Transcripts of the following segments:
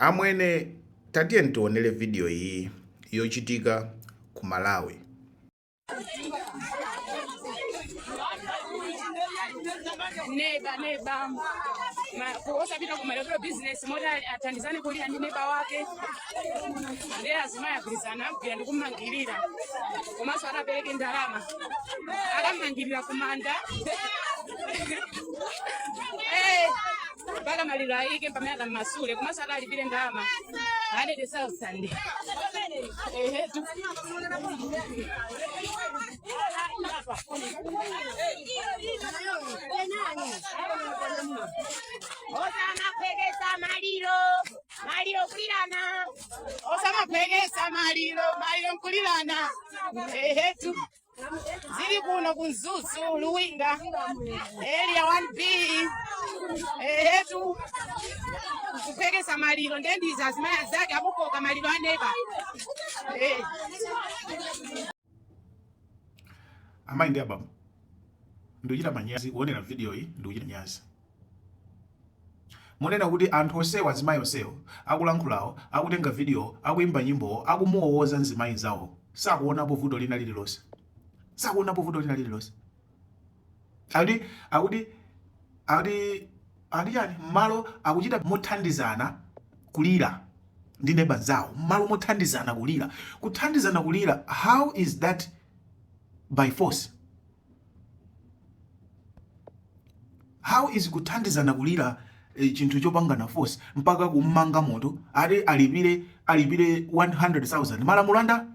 Amwene tatiyeni tionere video iyi yochitika ku Malawi. neba neba Ma- ku- osapita ku malekero bizinesi moti athandizane kulira ndi neba wake ndiye azimayi agwirizana agwira ndi kumangirira komanso adzapereke ndalama akamumangirira kumanda Eh, mpaka maliro ayikidwe pamene akamumasule komanso akalipire ndalama 100,000 Ehetu osamaphweketsa maliro maliro nkulirana osamaphweketsa maliro maliro nkulirana ehetu zili kuno ku mzuzu luwinga area 1b ehetu kuphweketsa maliro nde ndi izi azimai anzake akukoka maliro aneba Eh. amayi ndi abambo ndikuchita manyazi kuonera video iyi ndikuchita manyazi Munena kuti anthu onsewo azimayi onsewo akulankhulawo, akutenga videowo, akuimba nyimbowo, akumuwowoza mzimayi mnzawowo sakuonapo vuto lina lililonse? Sakuonapo vuto lina lililonse? Akuti akuti akuti akuti chani? Mmalo akuchita mothandizana kulira ndi neba nzawo mmalo mothandizana kulira. Kuthandizana kulira how is that by force? how is kuthandizana kulira eh, chinthu chopangana force mpaka kummanga munthu ati alipire alipire 100000 malamulo a nda-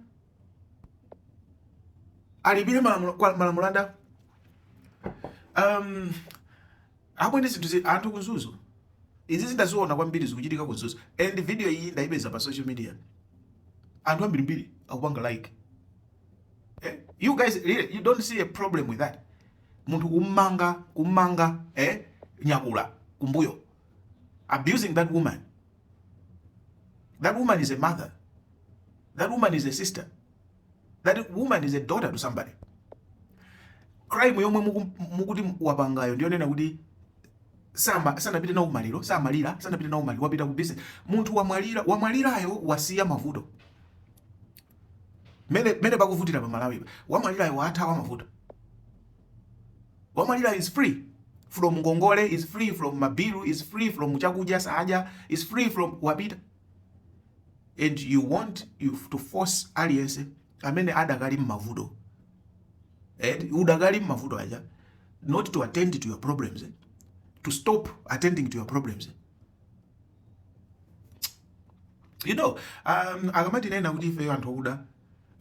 alipire malamulo a ndani amwene zinthu anthu ku Mzuzu izi zindaziona kwambiri zikuchitika ku Mzuzu and video iyi ndaipeza pa social media anthu ambirimbiri akupanga like eh? you guys really, you don't see a problem with that munthu kummanga kummanga eh? nyakula kumbuyo abusing that woman that woman is a mother that woman is a sister that woman is a daughter to somebody crime yomwe mukuti wapangayo ndiyonena kuti sama sanapite nawo maliro samalira sanapite nawo maliro wapita ku business munthu wamwalira wamwalirayo wasiya mavuto mmene mmene pakuvutira pa Malawi pa wamwalirayo watha wamavuta wamwalirayo is free from ngongole is free from mabilu is free from chakudya saadya is free from wapita and you want you to force aliyense amene adakali mmavuto and eh, udakali mmavuto aja not to attend to your problems eh? to stop attending to your problems eh? you know um, akamatinenera kuti ifeyo anthu okuda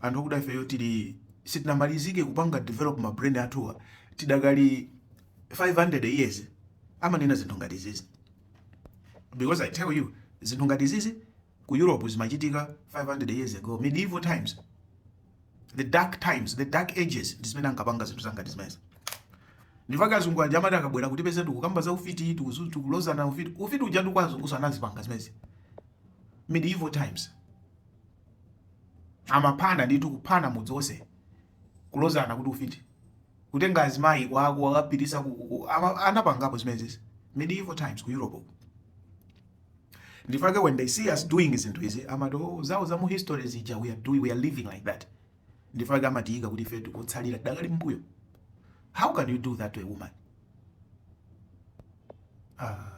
anthu okuda ifeyo tili sitinamalizike kupanga develop ma brain athuwa tidakali 500 years amanena zinthu ngati izizi because i tell you zinthu ngati izizi ku europe zimachitika 500 years ago medieval times the dark times the dark ages ndi zimene ankapanga zinthu zangati zimenezi n'chifukwa chake azungu aja amati akabwera kutipeza tikukamba za ufiti tikuzu- tikulozana ufiti ufiti uja ndi kwa azungu anazipanga zimenezi medieval times amaphana nditu kuphana mudzi onse kulozana kuti ufiti kutenga azimayi kukawakapititsa ku, ku, ku ama, anapangapo zimenezi medieval times ku Europe uko. Ndi chifukwa chake when they see us doing zinthu izi amati oh, zawo za mu history zija we are doing we are living like that. Ndi chifukwa chake amatiyika kuti ife tikutsalira tidakali m'mbuyo. How can you do that to a woman? Ah.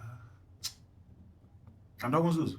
Anthu aku Mzuzu